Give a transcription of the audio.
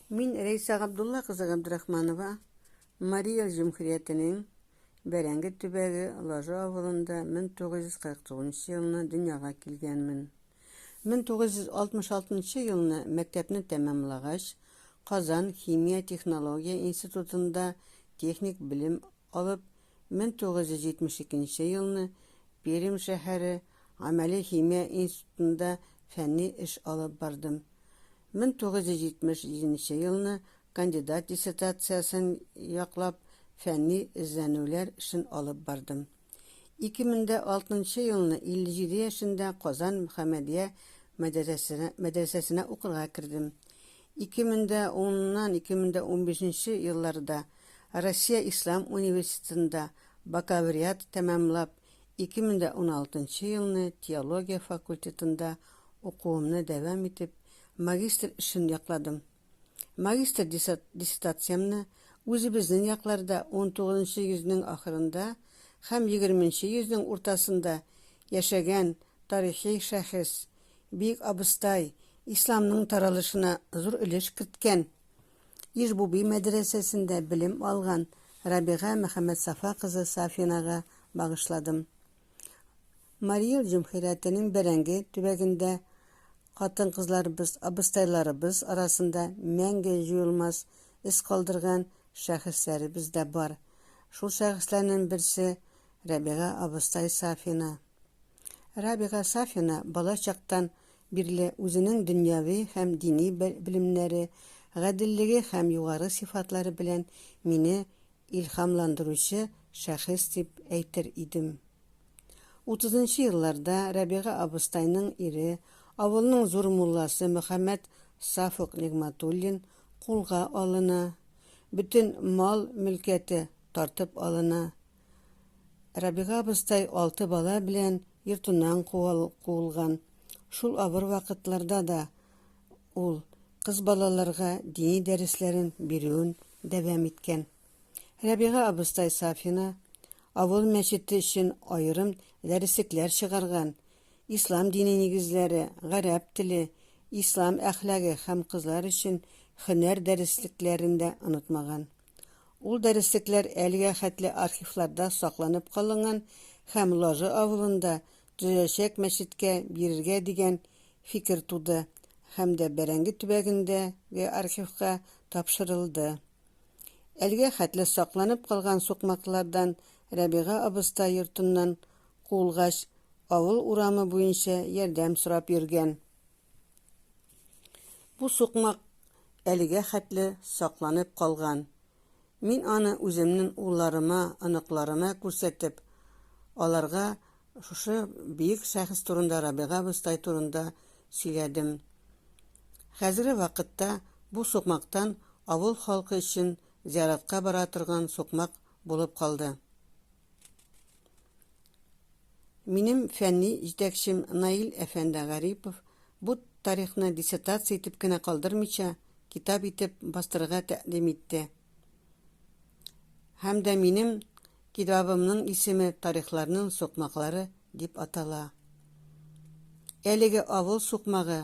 Мин Рәйсә Габдулла кызы Габдрахманова, Мария җөмхүриятенең Бәрәңге төбәге Лажы авылында 1949 елны дөньяга килгәнмен. 1966 елны мәктәпне тәмамлагач, Казан химия-технология институтында техник белем алып, 1972 елны Пермь шәһәре Гамәли химия институтында фәнни эш алып бардым. 1977 нче елны кандидат диссертациясен яклап, фәнни эзләнүләр эшен алып бардым. 2006 нчы елны 57 яшендә Казан Мөхәммәдия мәдәрәсенә мәдрәсәсенә укырга кердем. 2010 ннан 2015 нче елларда Россия ислам университетында бакалавриат тәмамлап, 2016 нчы елны теология факультетында укуымны дәвам итеп, магистр эшен якладым. Магистр диссертациямне үзебезнең якларда XIX нчы йөзнең ахырында һәм XX нчы йөзнең уртасында яшәгән тарихи шәхес, Бөек Абыстай, исламның таралышына зур өлеш керткән, Иж-Буби мәдрәсәсендә белем алган Рабига Мөхәммәтсафа кызы Сафинага багышладым. Мари Эл җөмһүрятенең Бәрәңге төбәгендә хатын-кызларыбыз, абыстайларыбыз арасында мәңге җуелмас эз калдырган шәхесләребез дә бар. Шул шәхесләрнең берсе, Рабига абыстай Сафина. Рабига Сафина бала чактан бирле үзенең дөньяви һәм дини белемнәре, гаделлеге һәм югары сыйфатлары белән мине илһамландыручы шәхес дип әйтер идем. Утызынчы елларда Рәбига абыстайның ире, авылның зур мулласы Мөхәммәд Сафук Нигъматуллин кулга алына, бөтен мал-мөлкәте тартып алына. Рабига абыстай алты бала белән йортыннан куылган. Шул авыр вакытларда да ул кыз балаларга дини дәресләрен бирүен дәвам иткән. Рабига абыстай Сафина авыл мәчете өчен аерым дәреслекләр чыгарган, ислам дине нигезләре, гарәп теле, ислам әхлагы һәм кызлар өчен һөнәр дәреслекләрен дә онытмаган. Ул дәреслекләр әлегә хәтле архивларда сакланып калынган һәм Лажы авылында төзеләчәк мәчеткә бирергә дигән фикер туды һәм дә Бәрәңге төбәгендәге архивка тапшырылды. Әлегә хәтле сакланып калган сукмаклардан Рәбига абыстай йортыннан куылгач, авыл урамы буенча ярдәм сорап йөргән. Бу сукмак әлегә хәтле сакланып калган. Мин аны үземнең улларыма, оныкларыма күрсәтеп, аларга шушы биек шәхес турында, Рабига абыстай турында сөйләдем. Хәзерге вакытта бу сукмактан авыл халкы өчен зияратка бара торган сукмак булып калды. Минем фәнни җитәкчем Наил әфәнде Гарипов бу тарихны диссертация итеп кенә калдырмыйча, китап итеп бастырырга тәкъдим итте һәм дә минем китабымның исеме Тарихларның сукмаклары дип атала. Әлеге авыл сукмагы